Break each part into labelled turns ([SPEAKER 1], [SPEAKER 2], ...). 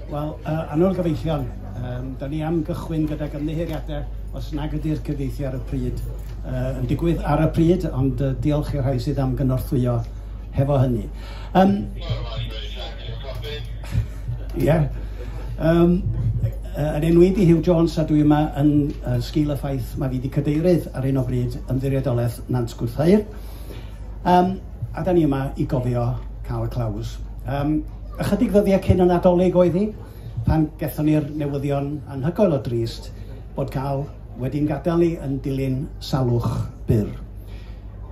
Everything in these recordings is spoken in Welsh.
[SPEAKER 1] Wel, uh, anol gyfeillion, um, da ni am gychwyn gydag ymddiheuriadau os nag ydy'r cyfeithi ar y pryd uh, yn digwydd ar y pryd, ond uh, diolch i'r rhai sydd am gynorthwyo hefo hynny. Um, yeah. Um, yn enwyd i Hugh Jones a dwi yma yn uh, sgil y ffaith mae fi wedi cadeirydd ar un o bryd ymddiriedolaeth Nant Gwrthair. Um, A da ni yma i gofio Karl Claus. Um, ychydig ddyddiau cyn y Nadolig oedd hi, pan gethon ni'r newyddion anhygoel o drist bod Karl wedi'n gadael ni yn dilyn salwch byr.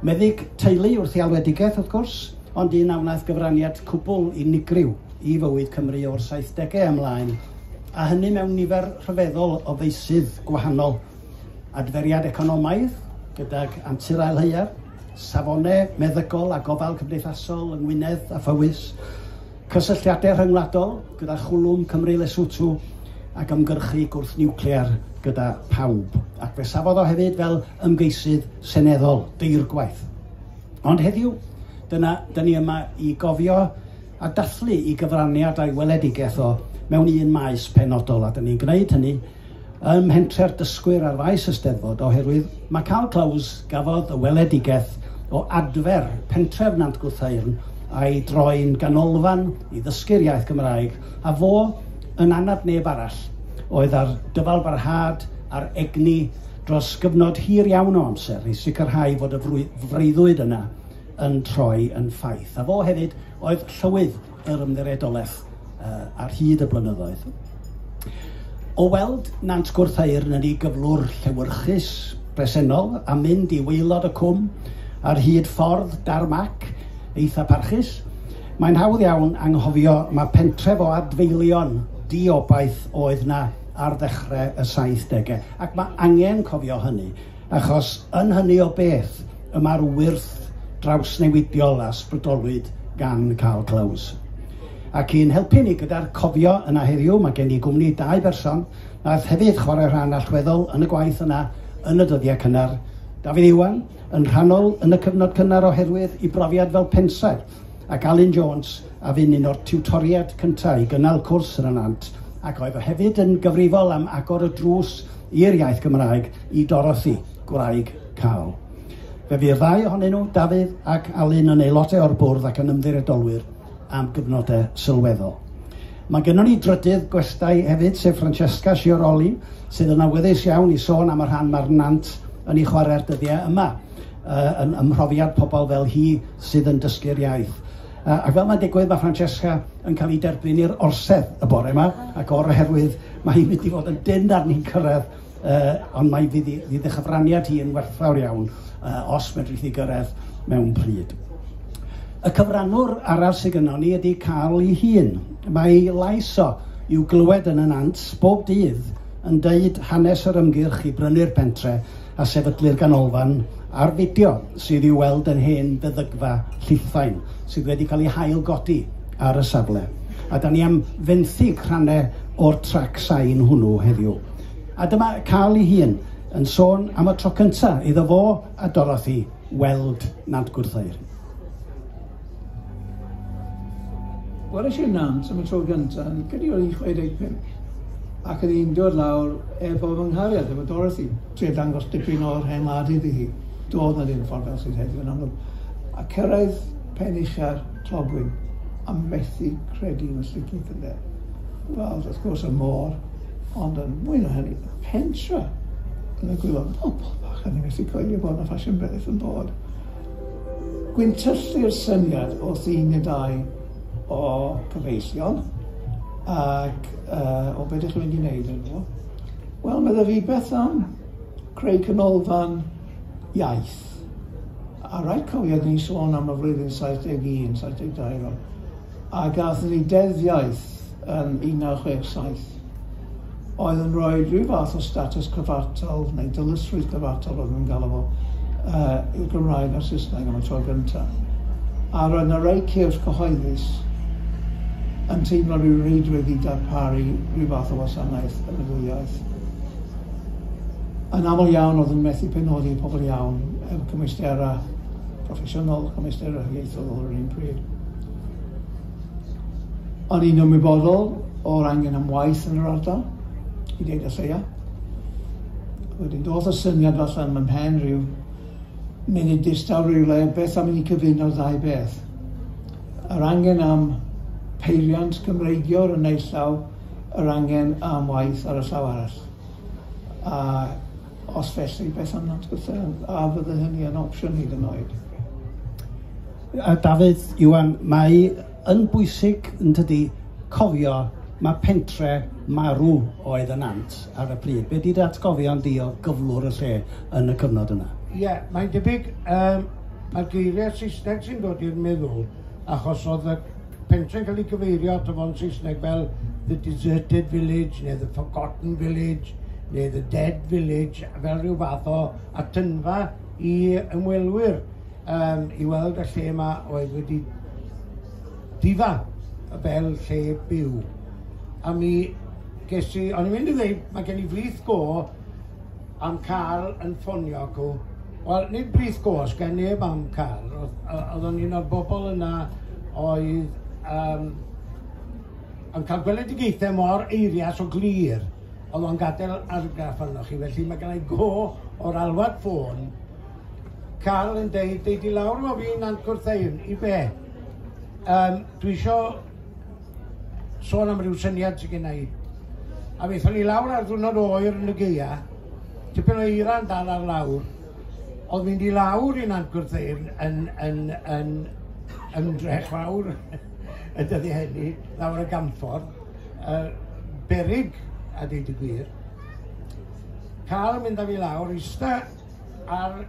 [SPEAKER 1] Meddyg teulu wrth ei alwedigaeth, wrth gwrs, ond un a wnaeth gyfraniad cwbl unigryw i fywyd Cymru o'r 70au ymlaen, a hynny mewn nifer rhyfeddol o feysydd gwahanol. Adferiad economaidd, gydag antur ail heiar, safonau meddygol a gofal cymdeithasol yng Ngwynedd a Phowys, cysylltiadau rhyngwladol gyda Chwlwm Cymru Lesotho ac ymgyrchu gwrth-niwclear gyda phawb. Ac fe safodd o hefyd fel ymgeisydd seneddol, deirgwaith. Ond heddiw, dyna, dyn ni yma i gofio a dathlu i gyfraniad a'i weledigaeth o mewn un maes penodol, a dyn ni'n gwneud hynny ym mhentre'r dysgwyr ar faes y Steddfod oherwydd mae Carl Clowes gafodd y weledigaeth o adfer pentref Nant Gwrtheyrn a'i droi'n ganolfan i ddysgu'r iaith Gymraeg a fo yn anad neb arall oedd â'r dyfalbarhad a'r egni dros gyfnod hir iawn o amser i sicrhau fod y freuddwyd yna yn troi yn ffaith a fo hefyd oedd Llywydd yr Ymddiriedolaeth ar hyd y blynyddoedd. O weld Nant Gwrtheyrn yn ei gyflwr llewyrchus bresennol a mynd i waelod y cwm ar hyd ffordd darmac eitha parchus, mae'n hawdd iawn anghofio mae pentref o adfeilion diobaith oedd na ar ddechrau y 70au, ac mae angen cofio hynny. Achos yn hynny o beth y mae'r wyrth drawsnewidiol a sbrydolwyd gan Karl Clowes. Ac i'n helpu ni gyda'r cofio yna heddiw, mae gen i gwmni dau berson naeth hefyd chwarae rhan allweddol yn y gwaith yna yn y dyddiau cynnar. Dafydd Iwan, yn rhannol yn y cyfnod cynnar oherwydd i brofiad fel pensaer. ac Alun Jones a fu'n un o'r tiwtoriaid cyntaf i gynnal cwrs yn y Nant, ac oedd o hefyd yn gyfrifol am agor y drws i'r iaith Gymraeg i Dorothy, gwraig Karl. Fe fu'r ddau ohonyn nhw, Dafydd ac Alun, yn aelodau o'r bwrdd ac yn ymddiriedolwyr am gyfnodau sylweddol. Mae gennym ni drydydd gwestai hefyd, sef Francesca Scioroli, sydd yn awyddus iawn i sôn am y rhan mae'r Nant yn ei chwarae'r dyddiau yma. uh, yn ymhrofiad pobl fel hi sydd yn dysgu'r iaith. Uh, ac fel mae'n digwydd, mae Francesca yn cael ei derbyn i'r orsedd y bore yma, ac o'r oherwydd mae hi'n mynd i fod yn dyn ar ni'n cyrraedd, uh, ond mae fydd ei chyfraniad hi yn werthfawr iawn uh, os medru chi gyrraedd mewn pryd. Y cyfrannwr arall sydd gyda ni ydy Carl ei hun. Mae ei lais o i'w glywed yn y nant bob dydd yn deud hanes yr ymgyrch i brynu'r pentre a sefydlu'r ganolfan ar fideo sydd i'w weld yn hen feddygfa Llithfaen sydd wedi cael ei hail-godi ar y safle. A da ni am fenthyg rhannau o'r trac sain hwnnw heddiw. A dyma Carl ei hun yn sôn am y tro cyntaf iddo fo a Dorothy weld Nant Gwrthair.
[SPEAKER 2] Chwaraes i'r Nant am y tro gyntaf yn ychydig o'r un 65 ac yn i'n dod lawr efo fy nghariad, efo Dorothy. Trio dangos dipyn o'r hen wlad iddi hi. Doedd na ddim ffordd fel sydd heddiw yn amlwg. A cyrraedd pen ucha'r clogwyn a methu credu yn y sicr ynde. Wel, wrth gwrs y môr, ond yn mwy na hynny, y pentra yn y gwylod. O, pobol bach yn ei methu coelio bod na ffasiwn beth yn bod. Gwyntyllir syniad o Ddyn-neu-Dai o gyfeillion ac yy o be' dych chi'n mynd i wneud â nhw. Wel ma' 'na rywbeth am creu canolfan iaith a raid cofio o'n i'n sôn am y flwyddyn saith deg un, saith deg dau rŵan. a gathon ni Deddf Iaith yn 1967, oedd yn rhoi rhyw fath o statws cyfartal, neu dylysrwydd cyfartal roeddwn i'n galw fo, yy i'r Gymraeg a'r Saesneg am y tro gynta'. A roedd 'na rei cyrff cyhoeddus yn teimlo ryw reidrwydd i darparu rhyw fath o wasanaeth yn y ddwy iaith. Yn aml iawn oedd yn methu penodi pobl iawn, yym cymwysterau proffesiynol, cymwysterau ieithyddol yr un pryd. O'n i'n ymwybodol o'r angen am waith yn yr ardal, i ddeud y lleia. Wedyn doth y syniad falle yn mhen rhyw munud distaw rywle, beth am i ni cyfuno'r ddau beth? Yr angen am peiriant Cymreigio ar y naill llaw, yr angen am waith ar y llaw arall. A Os felly, beth am natblygiad, a fydde hynny yn opsiwn hyd yn oed? A Dafydd
[SPEAKER 1] Iwan, mae yn bwysig yntydy cofio mae pentre marw oedd y Nant ar y pryd. Be 'di dy atgofion di o gyflwr y lle yn y cyfnod yna? Ie, yeah, mae'n debyg,
[SPEAKER 3] um, mae'r geiriau Saesneg sy'n dod i'r meddwl, achos oedd y Pentref cael ei gyfeirio ato fo'n Saesneg fel The Deserted Village neu The Forgotten Village neu The Dead Village fel rhyw fath o atynfa i ymwelwyr um, i weld y lle yma oedd wedi difa fel lle byw. A mi ges i, o'n i'n mynd i ddweud, mae gen i flith go am Carl yn ffonio acw. Wel, nid brith gos gen neb am Carl. Oedd o'n un o'r bobl yna oedd um, yn cael gweledigaethau mor eirias o glir. Oedd o'n gadael argraff arnoch chi, felly mae gen i go o'r alwad ffôn. Carl yn deud, deud i lawr o fi Nant Gwrtheyrn, i be? Um, dwi eisiau sôn am ryw syniad sydd gennau. A wnaethon ni lawr ar ddwrnod oer yn y geia, tipyn o eira'n dal ar lawr, oedd mynd i lawr i'n Antgwrtheir yn, yn, yn, yn drech fawr y dyddi hynny, lawr y gamffordd, uh, berig a dweud y gwir. Cael mynd â fi lawr, eista Ar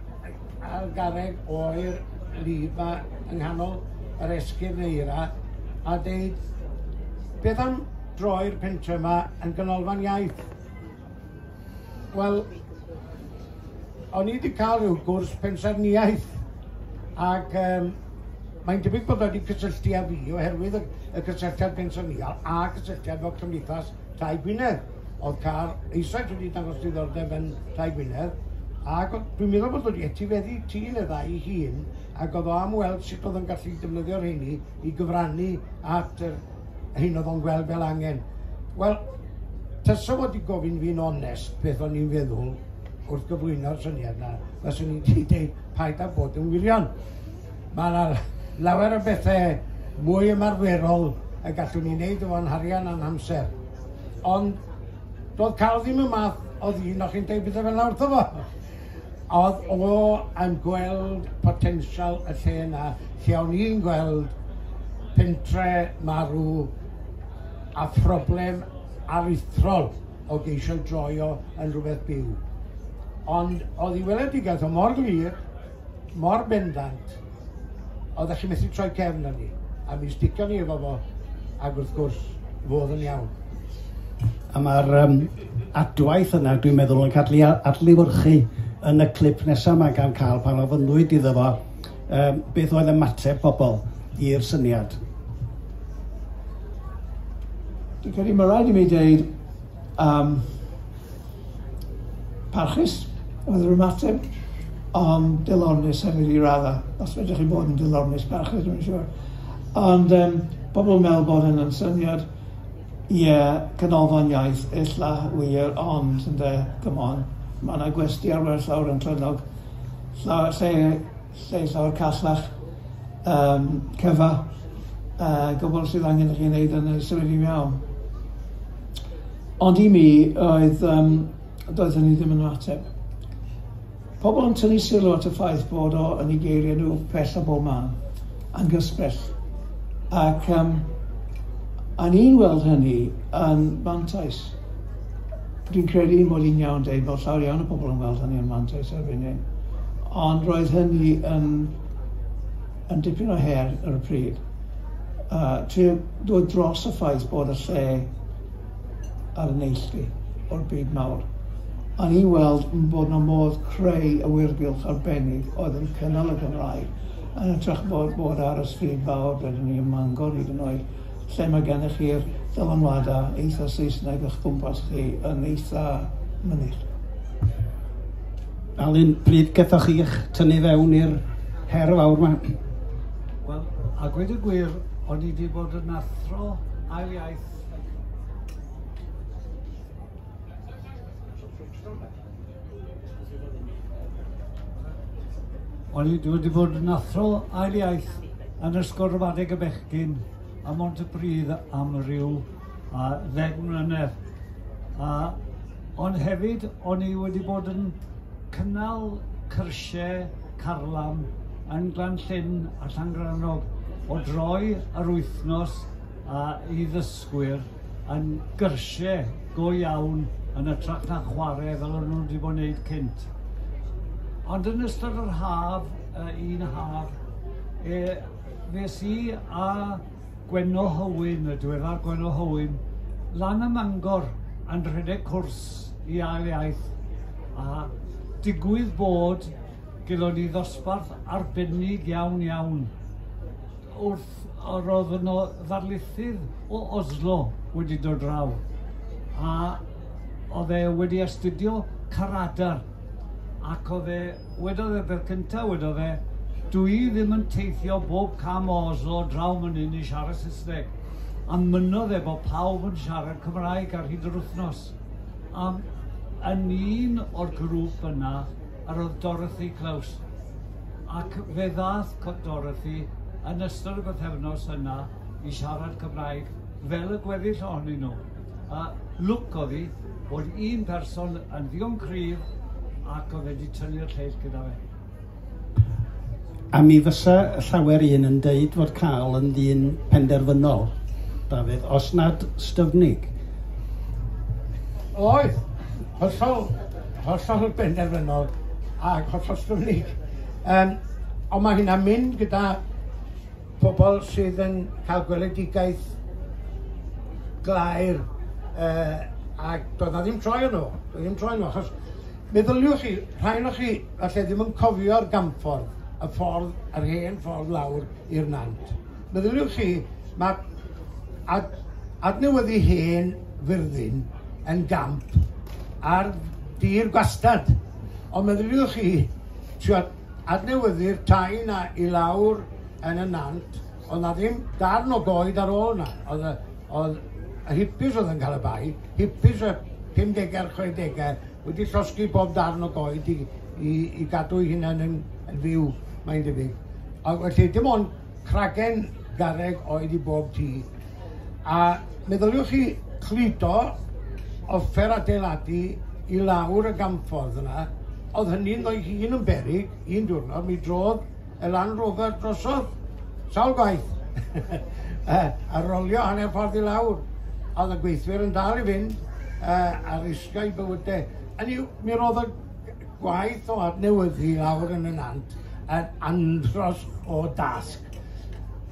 [SPEAKER 3] ar garreg oer Liva yng nghanol yr esgyrn eira a deud beth am droi'r pentre yma yn ganolfan iaith? Wel, o'n i wedi cael rhyw gwrs pensaernïaeth ac um, mae'n debyg bod wedi cysylltu â fi oherwydd y, y cysylltiad bensaernïol a cysylltiad fel Cymdeithas Tai Gwynedd. O'dd Carl eisoes wedi dangos diddordeb yn Nhai Gwynedd, ac o'dd... Dwi'n meddwl bod o wedi etifeddu tŷ ne' ddau 'i hun, ac o'dd o am weld sut o'dd o'n gallu defnyddio'r rheiny i gyfrannu at yr hyn o'dd o'n gweld fel angen. Wel, tasa fo 'di gofyn fi'n onest beth o'n i'n feddwl wrth gyflwyno'r syniad 'na, faswn i 'di deud paid â bod yn wirion. Ma' 'na lawer o bethe mwy ymarferol y gallwn ni neud efo'n harian a'n hamser. Ond doedd Carl ddim y math o ddyn o'ch chi'n deud bethau fel 'na wrtho fo. Oedd o yn gweld potensial y lle 'na lle o'n i'n gweld pentre marw a phroblem aruthrol o geisio droio yn rhywbeth byw. Ond oedd 'i weledigaeth o mor glir mor bendant, oeddech chi methu troi cefn ar ni, a mi sdicio ni efo fo, ac wrth gwrs, fodd yn iawn. A
[SPEAKER 1] mae'r um, adwaith yna, dwi'n meddwl, yn cael ei adlewyrchu yn y clip nesaf yma gan cael pan ofynnwyd iddo fo um, beth oedd ymateb pobl i'r syniad.
[SPEAKER 2] Dwi'n credu mae rhaid i mi dweud Yym parchus oedd yr ymateb, ond dylornus hefyd i raddau, os fedrwch chi fod yn dylornus parchus, dwi'n siŵr. Ond um, pobl yn meddwl bod yn yn syniad, ie, yeah, canolfan iaith, illa, wir, ond, ynde, come on, mae yna gwesti ar werth lawr yn clynog, llawer lle lle llawer callach yym cyfa yy gwbl sydd angen i chi wneud yn y swydd yn iawn. Ond i mi oedd yym doeddwn ni ddim yn ateb. Pobl yn tynnu sylw at y ffaith bod o yn ei geiriau nhw pell o bob man, angysbell. Ac yym a ni'n weld hynny yn fantais. Dwi'n credu mod i'n iawn deud bod llawer iawn o pobl yn weld hynny yn mantais erbyn hyn. Ond roedd hynny yn, yn dipyn o her ar y pryd. Uh, tri dod dros y ffaith bod y lle ar y neilltu o'r byd mawr. A ni'n weld bod yna modd creu y wirgylch arbennig oedd yn cynnal y Gymraeg yn ytrach bod bod ar y stryd fawr, dydyn ni ym Mangor hyd yn oed, lle mae gennych chi'r dylanwadau eitha' Saesneg o'ch cwmpas chi yn eitha' mynych.
[SPEAKER 1] Alun, pryd gethoch chi'ch tynnu fewn i'r her fawr 'ma?
[SPEAKER 4] Wel, a gweud y gwir, o'n i wedi bod yn athro ail iaith O'n i wedi bod yn athro ail iaith yn Ysgol Ramadeg y Bechgyn ym Mhontypridd am ryw uh, ddeg mlynedd. Uh, ond hefyd, o'n i wedi bod yn cynnal cyrsiau carlam yn Glan Llyn a Llangrannog o droi yr wythnos uh, i ddysgwyr yn gyrsie go iawn yn y trac na chware fel o'n nhw wedi bod yn neud cynt. Ond yn ystod yr haf, uh, un haf, e, fes i a Gwenno Hywyn, y diweddar Gwenno Hywyn, lan y Mangor yn rhedeg cwrs i ail iaith a digwydd bod gilon ni ddosbarth arbennig iawn iawn wrth ro'dd yno ddarlithydd o Oslo wedi dod draw a o'dd e wedi astudio Caradar ac o'dd e wedodd e beth cynta wedodd e dw i ddim yn teithio bob cam o Oslo draw man 'yn i siarad Saesneg a mynnodd e bo' pawb yn siarad Cymraeg ar hyd yr wythnos a yn un o'r grŵp yna yr oedd Dorothy Close, ac fe ddaeth Dorothy yn ystod y bythefnos yna i siarad Cymraeg fel y gweddill ohonyn nhw. A lwc oedd hi bod un person yn ddigon cryf ac oedd wedi tynnu'r lleill gyda fe. A
[SPEAKER 1] mi fysa llawer un yn deud fod cael yn ddyn penderfynol, Dafydd, os nad styfnig.
[SPEAKER 3] Oedd, hollol. Hollol benderfynol ac hollol styfnig. Yym, ond mae hynna'n mynd gyda pobl sydd yn cael gweledigaeth glaer uh, ac doedd na ddim troi nhw, doedd ddim troi nhw, achos meddyliwch chi, rhai o'n chi falle ddim yn cofio'r gamffordd, y ffordd, yr hen ffordd lawr i'r nant. Meddyliwch chi, mae ad, adnewyddu hen Caerfyrddin yn gamp ar dir gwastad. Ond meddyliwch chi, tibod, adnewyddu'r tai 'na i lawr yn y nant, oedd 'na ddim darn o goed ar ôl yna. Oedd y, oedd y hippies oedd yn cael y bai, hippies y 50au a'r 60au wedi llosgi bob darn o goed i, i, i gadw'i hunan yn, yn fyw, mae'n debyg. A felly, dim ond cragen garreg oed i bob tŷ, a meddyliwch chi cludo offer adeiladu i lawr y gamffordd yna, oedd hynny ynddo'i hun yn beryg, un diwrnod mi drodd y Land Rover drosodd sawl gwaith, a rolio hanner ffordd i lawr, a oedd y gweithwyr yn dal i fynd, a risgio'u bywydau. Hynny yw, mi roedd y gwaith o adnewyddu i lawr yn y nant yn andros o dasg.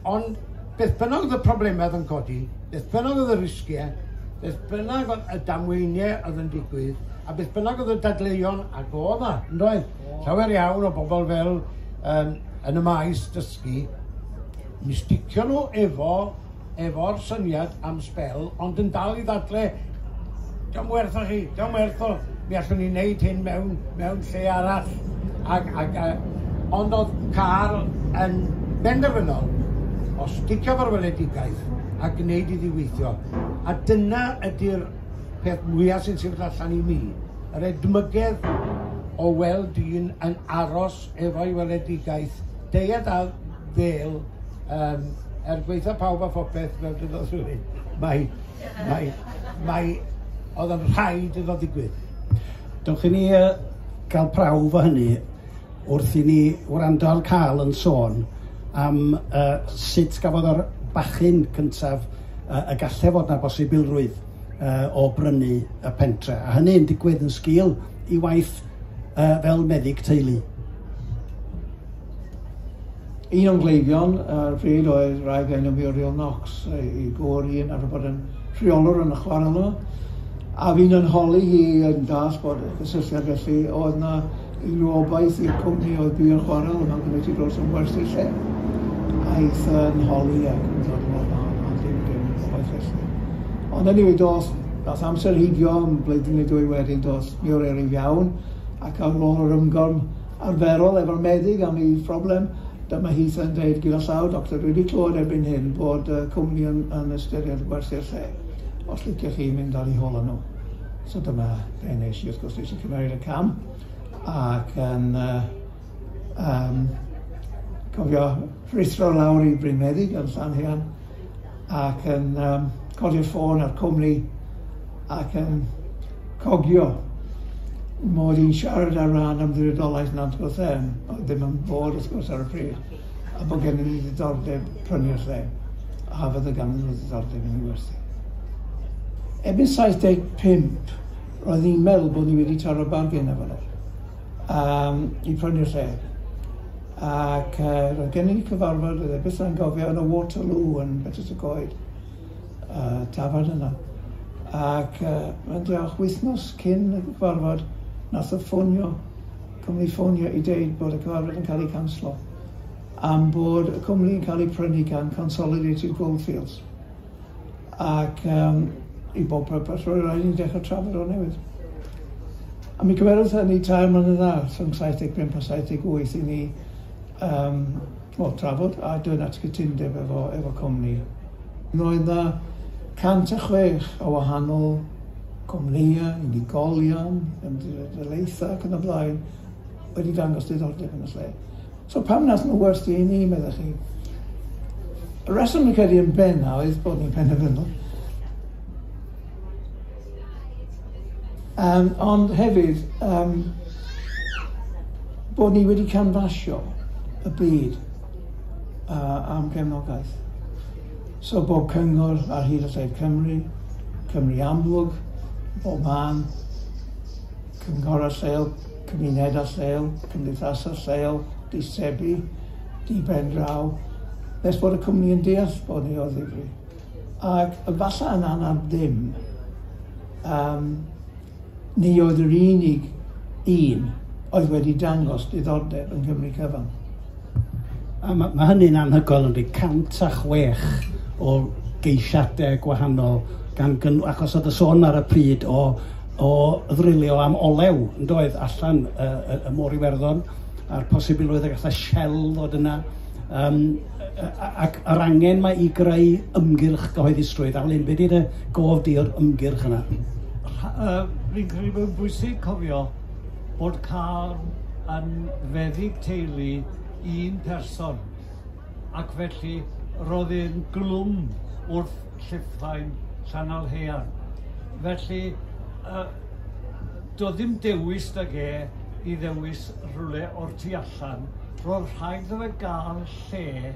[SPEAKER 3] Ond beth bynnag oedd y problemau oedd yn codi, beth bynnag oedd y risgiau, beth bynnag oedd y damweiniau oedd yn digwydd, a beth bynnag oedd y dadleuon a oedd yna, yn doedd? Llawer iawn o bobl fel um, yn y maes dysgu, mi sticio nhw efo efo'r syniad am sbel, ond yn dal i ddadle, diom werth o chi, diom werth o, mi allwn ni wneud hyn mewn, mewn lle arall. Ac, ac, a, ond oedd Carl yn benderfynol o sticio fo'r weledigaeth a gwneud iddi weithio. A dyna ydy'r peth mwyaf sy'n sefyll allan i mi, yr edmygedd o weld un yn aros efo'i weledigaeth deiet a ddêl yym er gwaetha pawb a phopeth fel dywedodd rhywun mae mae mae oedd o'n rhaid iddo ddigwydd. Dewch i ni
[SPEAKER 1] yy gael prawf o hynny wrth i ni wrando ar Carl yn sôn am yy sut gafodd yr bachyn cyntaf yy y galle fod 'na bosibilrwydd yy o brynu y pentre a hynny'n digwydd yn sgil 'i waith yy fel meddyg teulu.
[SPEAKER 2] Un o'n gleifion ar bryd oedd rhaid gael nhw Muriel Knox i gôr un ar bod yn rheolwr yn y chwarae nhw. A fi'n yn holi hi yn dall bod y cysylltiad felly oedd na unrhyw obaith i'r cwmni oedd bu yn chwarae yma'n gwneud i dros yn werth ei lle. Aeth yn holi ac yn dod yn ôl a ddim dim obaith felly. Ond anyway, dos, dath amser hidio, yn bleidyn neu dwy wedyn, dos Mi o'r eryr iawn, ac ar lon yr ymgorn arferol efo'r meddyg am ei phroblem, dyma Heath yn dweud gyda llaw, Doctor, dwi wedi clywed erbyn hyn bod y cwmni yn, yn ystyried gwerthu'r lle, os liciwch chi mynd ar ei hol â nhw. So dyma be nes i, wrth gwrs, nes i cymryd y cam, ac yn uh, um, cofio rhuthro lawr i Bryn Meddyg yn Llanhean, ac yn um, codi'r ffôn a'r cwmni ac yn cogio mod i'n siarad ar ran ymddiriedolaeth Nant Gwrthefn, ddim yn bod wrth gwrs ar y pryd, a bod gen i ddiddordeb prynu'r lle, a fydde y ganddyn nhw ddiddordeb yn ei werthu. Ebyn 75, roedd i'n meddwl bod ni wedi taro bargen efo nhw. Yym i prynu'r lle ac yy roedd gennym ni cyfarfod oedd e byth yn anghofio yn y Waterloo yn Betws y Coed yy tafarn yna ac yy mae'n deall wythnos cyn y cyfarfod nath o ffonio cwmni ffonio i deud bod y cyfarfod yn ca'l ei canslo am bod y cwmni yn ca'l ei prynu gan Consolidated Goldfields. Ac um, i bob pwrpas roedd rhaid i dechrau trafod o newydd. A mi gymerodd hynny tair mlynedd ar, rhwng 75 a 78 i ni um, well, trafod a dod at gytundeb efo, efo cwmni. Roedd na 106 o wahanol gwmnïau, unigolion, ymddirelaethau ac yn y blaen wedi dangos diddordeb yn y lle. So pam wnaeth nhw werthu i ni, meddech chi? Y rheswm fi'n credu yn benna oedd bod ni'n penderfynol. Um, ond hefyd, um, bod ni wedi canfasio y byd uh, am gefnogaeth. So bob cyngor ar hyd y lled Cymru, Cymru amlwg, bob man, cynghorau lleol, Cymunedau lleol, cymdeithasau lleol, disebu, di-ben draw, nes bod y cwmni yn deall bod ni o ddifri. Ac efallai yn anad ddim, um, ni oedd yr unig un oedd wedi dangos diddordeb yn Gymru cyfan. A
[SPEAKER 1] mae, mae hynny'n anhygoel yn rhaid 106 o geisiadau gwahanol gan gyn... achos oedd y sôn ar y pryd o o ddrylio am olew yndoedd allan yy yy y Môr Iwerddon a'r posibilrwydd y gallai Shell ddod yna yym yy a- ac yr angen 'ma i greu ymgyrch gyhoeddusrwydd a wnelo be' 'di'r yy gof di o'r ymgyrch yna? Rha- yy
[SPEAKER 4] fi'n credu bod yn bwysig cofio bod Carn yn feddyg teulu un person ac felly ro'dd e'n glwm wrth Llyfrfaen Llanalhean. Felly yy do'dd ddim dewis 'da ge i ddewis rywle o'r tu allan, ro'dd rhaid 'tho fe ga'l lle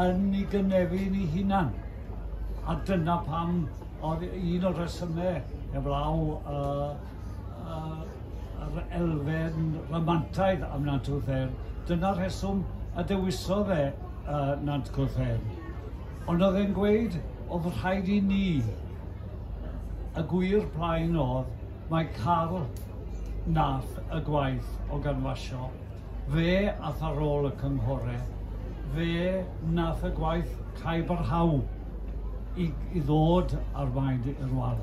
[SPEAKER 4] yn 'i gynefin 'i hunan. A dyna pam o'dd un o'r rhesyme heblaw y y yr elfen rhamantaidd am Nant Wrtheuyn, dyna'r rheswm y dewisodd e yy Nant Gwrtheuyn. Ond oedd e'n gweud oedd rhaid i ni, y gwir plaen oedd mae Carl nath y gwaith o ganfasio, fe ath ar ôl y cynghore, fe nath y gwaith cael barhau i, i ddod ar fain i'r wal.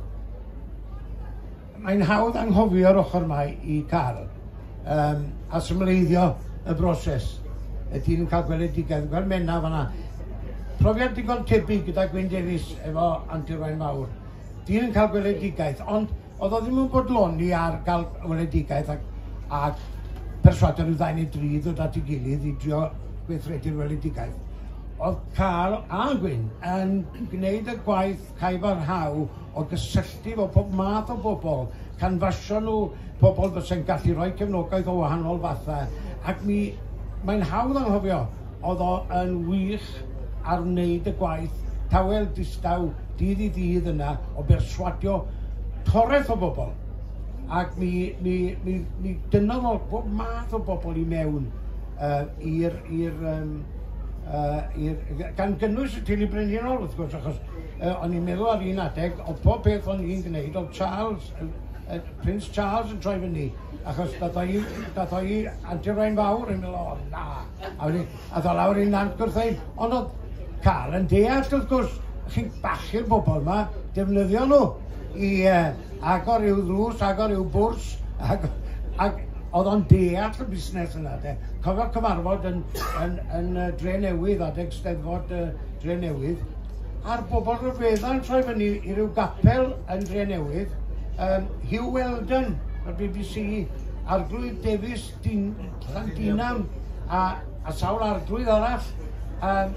[SPEAKER 4] Mae'n
[SPEAKER 3] hawdd anghofio'r ochr mae i Carl um, a symleiddio y broses. Ydy ni'n cael gweledigaeth, gweld Menna fanna. Profiad digon tebyg gyda Gwyn Davies efo Antirwain Mawr. Dyn yn cael gweledigaeth, ond oedd o ddim yn bodloni ar gael gweledigaeth ac, ac perswada rhyw ddau neu dri ddod at ei gilydd i drio gweithredu'r weledigaeth. Oedd Carl a Gwyn yn gwneud y gwaith cael barhau o gysylltu positif o bob math o bobl, canfasio nhw, pobl fyse'n gallu rhoi cefnogaeth o wahanol fathau, ac mi, mae'n hawdd anghofio, oedd o yn wych ar wneud y gwaith tawel distaw dydd i ddydd yna o berswadio toreth o bobl. Ac mi, mi, mi, mi dynnodd o bob math o bobl i mewn uh, i'r, i'r, um, uh, i'r, gan gynnwys y teulu brenhinol wrth gwrs, achos uh, o'n i'n meddwl ar un adeg o pob peth o'n i'n gwneud o Charles, uh, uh, Prince Charles yn troi fyny, achos dath o'i, dath o'i antifrain fawr yn meddwl, o na, a wedi, a ddo lawr i'n nant gwrthau, ond oedd cael yn deall, wrth gwrs, chi'n bachu'r bobl yma, defnyddio nhw i uh, agor i'w ddrws, agor i'w bwrs, ac, ac oedd o'n deall y busnes yna. De. Cofio cyfarfod yn, yn, yn, yn Dre Newydd, adeg Steddfod uh, Dre Newydd, A'r bobl ryfeddol troi fyny i ryw gapel yn Drenewydd, um, Hugh Weldon o'r BBC, Arglwydd Davies Din, Llandinam a, a sawl arglwydd arall. Um,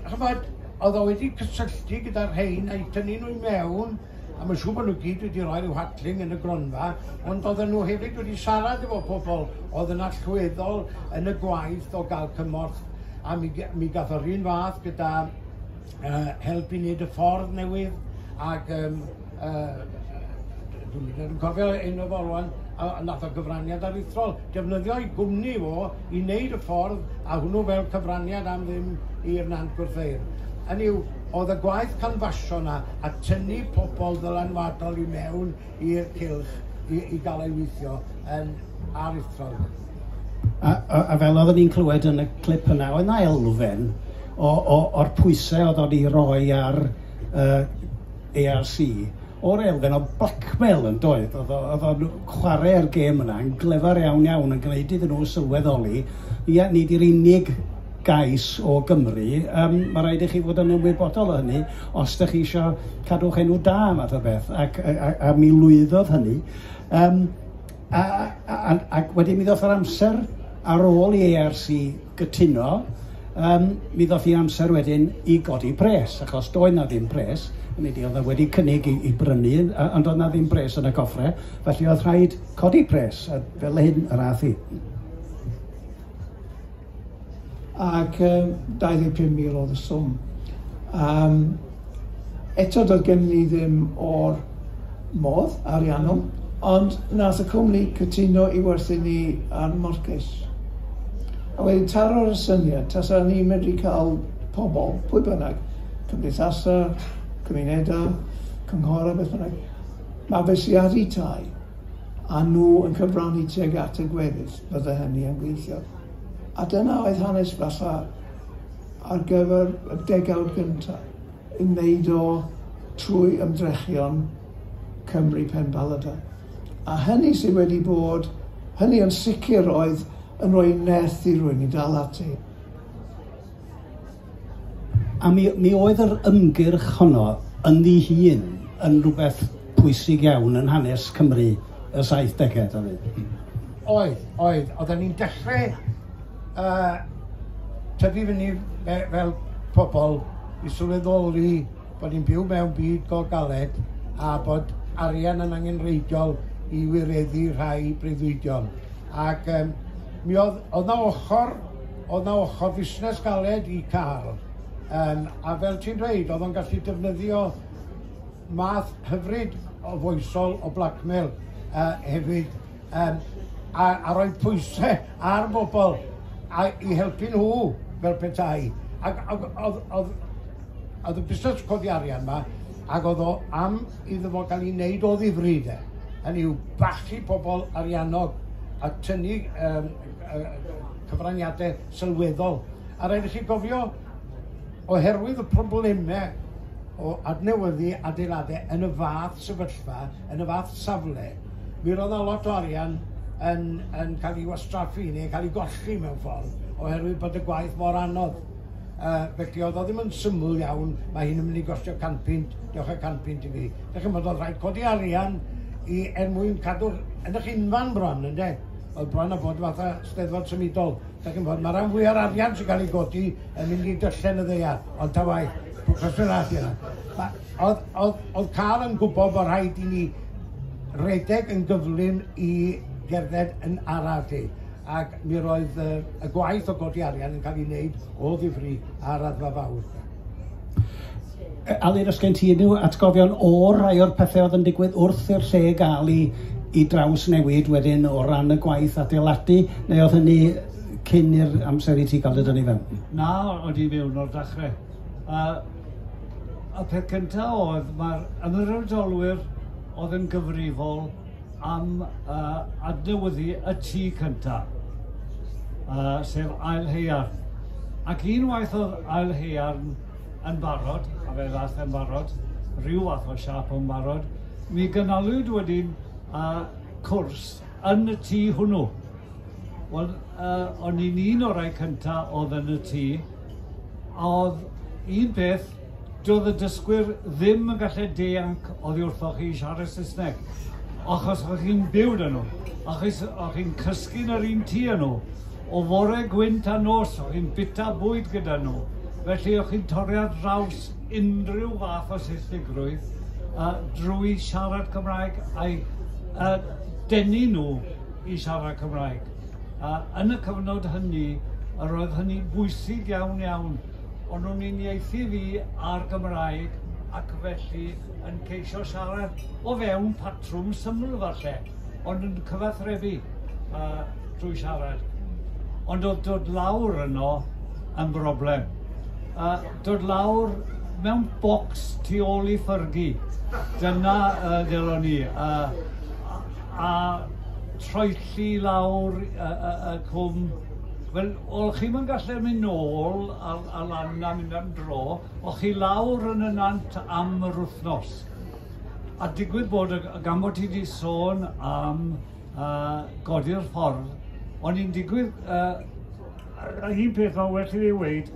[SPEAKER 3] chybod, oedd o wedi cysylltu gyda'r rhain a'i tynnu nhw mewn A mae'n siŵr bod nhw gyd wedi rhoi rhyw hatling yn y gronfa, ond oedden nhw hefyd wedi siarad efo pobl oedd yn allweddol yn y gwaith o gael cymorth, a mi, mi gath o'r un fath gyda uh, help i wneud y ffordd newydd, ac um, uh, dwi'n cofio un o fo rwan, a nath o gyfraniad aruthrol, defnyddio'i gwmni fo i wneud y ffordd, a hwnnw fel cyfraniad am ddim i'r Nant Gwrtheyrn. Hynny yw, oedd y gwaith canfasio 'na a tynnu pobl ddylanwadol i mewn i'r cylch i, i gael ei weithio yn aruthrol. A, a,
[SPEAKER 1] a fel oeddwn ni'n clywed yn y clip yna, oedd na elfen o, o, o'r pwysau oedd o'n ei roi ar uh, ARC o'r elfen o blackmail yn doedd? Oedd oedd o'n chwarae'r gêm yna yn glefar iawn iawn yn gwneud iddyn nhw sylweddoli, ia, nid yw'r unig gais o Gymru, um, mae rhaid i chi fod yn ymwybodol o hynny os ydych chi eisiau cadw'ch enw da math o beth, ac, a, a, a mi lwyddodd hynny. Um, a, a, a, ac wedyn mi ddoth yr amser ar ôl i ARC gytuno, um, mi ddoth i amser wedyn i godi pres, achos doedd na ddim pres, nid oedd na wedi cynnig i, i brynu, ond oedd na ddim pres yn y coffre, felly oedd rhaid codi pres, a fel hyn yr ath i.
[SPEAKER 2] Ac um, 25,000 oedd y swm. Um, Eto doedd gennym ni ddim o'r modd ariannol, ond nath y cwmni cytuno i werthu ni ar mortgej. A wedyn taro'r y syniad tasa ni'n medru cael pobl, pwy bynnag, cymdeithasa, cymuneda, cynghora beth bynnag, mabwysiadu tai, a nhw yn cyfrannu tuag at y gweddill, bydde hynny yn gweithio. A dyna oedd hanes fatha ar gyfer y degawd gynta' i wneud o trwy ymdrechion Cymru Pen Ballada. A hynny sydd wedi bod, hynny yn sicr oedd yn rhoi nerth i rwy'n i dal ati.
[SPEAKER 1] A mi mi oedd yr ymgyrch honno ynddi hun yn rhywbeth pwysig iawn yn hanes Cymru y saithdegau, Dafydd. Oedd,
[SPEAKER 3] oedd. Oedden ni'n dechrau uh, tyfu fyny fe, fel pobl i sylweddoli bod ni'n byw mewn byd go galed a bod arian yn angenreidiol i wireddu rhai breuddwydion. Ac um, mi oedd, oedd na ochr, oedd na ochr fusnes galed i Carl. Um, a fel ti'n dweud, oedd o'n gallu defnyddio Math hyfryd o foesol o blackmail yy hefyd yym a a roi pwyse ar bobl a i helpu nhw fel petai ag ag o'dd o'dd o'dd y busnes codi arian ma ag o'dd o am iddo fo ga'l i neud o ddifri de hynny yw bachu pobl ariannog a tynnu yym yy cyfraniade sylweddol a raid i chi gofio Oherwydd y problemau o adnewyddu adeiladau yn y fath sefyllfa, yn y fath safle, mi roedd yna lot o arian yn, yn cael ei wastraffu neu cael ei golli mewn ffordd, oherwydd bod y gwaith mor anodd. Uh, felly oedd o ddim yn syml iawn, mae hyn yn mynd i gostio 100 pint, diolch y 100 pint i mi. Dych chi'n oedd rhaid codi arian i, er mwyn cadw yn eich unfan bron, ynddo? oedd bron a bod fatha steddfod symudol. Felly, mae'r rhan fwy o'r arian sy'n cael ei godi yn mynd i dylled y ddaear, ond ta waeth, dwi'n cyswyn at yna. Oedd, oedd, oedd Carl yn gwybod bod rhaid i ni redeg yn gyflym i gerdded yn araf chi. Ac mi roedd uh, y gwaith o godi arian yn cael ei wneud o ddifri ar raddfa fawr.
[SPEAKER 1] Alir os gen ti unrhyw atgofion o'r rhai o'r pethau oedd yn digwydd wrth i'r lle gael ei, ei draws newid wedyn o ran y gwaith adeiladu, neu oedd hynny cyn i'r amser i ti gael dy dynnu i fewn? Na, oedd i
[SPEAKER 4] fewn o'r dachrau. A, y peth cynta oedd, mae'r ymwyrddolwyr oedd yn gyfrifol am uh, adnewyddu y tŷ cynta, uh, sef ail heiarn. Ac unwaith oedd ail heiarn yn barod, a fe ddath yn barod, rhyw fath o siap yn barod, mi gynalwyd wedyn uh, cwrs Yn y tŷ hwnnw. Wel, uh, o'n i'n un o'r rhai cynta oedd yn y tŷ, a oedd un peth, doedd y dysgwyr ddim yn gallu deanc oddi wrtho chi siarad Saesneg, achos o'ch chi'n byw dyn nhw, achos o'ch chi'n cysgu yn yr un tŷ nhw, o fore gwynt a nos, o'ch chi'n bita bwyd gyda nhw, felly o'ch chi'n torri ar draws unrhyw fath o seistigrwydd yy drwy siarad Cymraeg a'u yy denu nhw i siarad Cymraeg. Yy yn y cyfnod hynny yr oedd hynny'n bwysig iawn iawn o'n nhw'n uniaethu fi a'r Gymraeg ac felly yn ceisio siarad o fewn patrwm syml falle ond yn cyfathrebu yy drwy siarad. Ond o'dd dod lawr yno yn broblem. Yy. dod lawr mewn bocs tu ôl i Fergie. Dyna uh, ddelon ni. Uh, a troelli lawr y uh, uh, uh, cwm. Wel, o chi mae'n gallu mynd nôl a, a lan a mynd am dro, o chi lawr yn y nant am yr wythnos. A digwydd bod, gan bod ti wedi sôn am uh, godi'r ffordd, o'n i'n digwydd uh, yr un peth mae'n well i fi weid,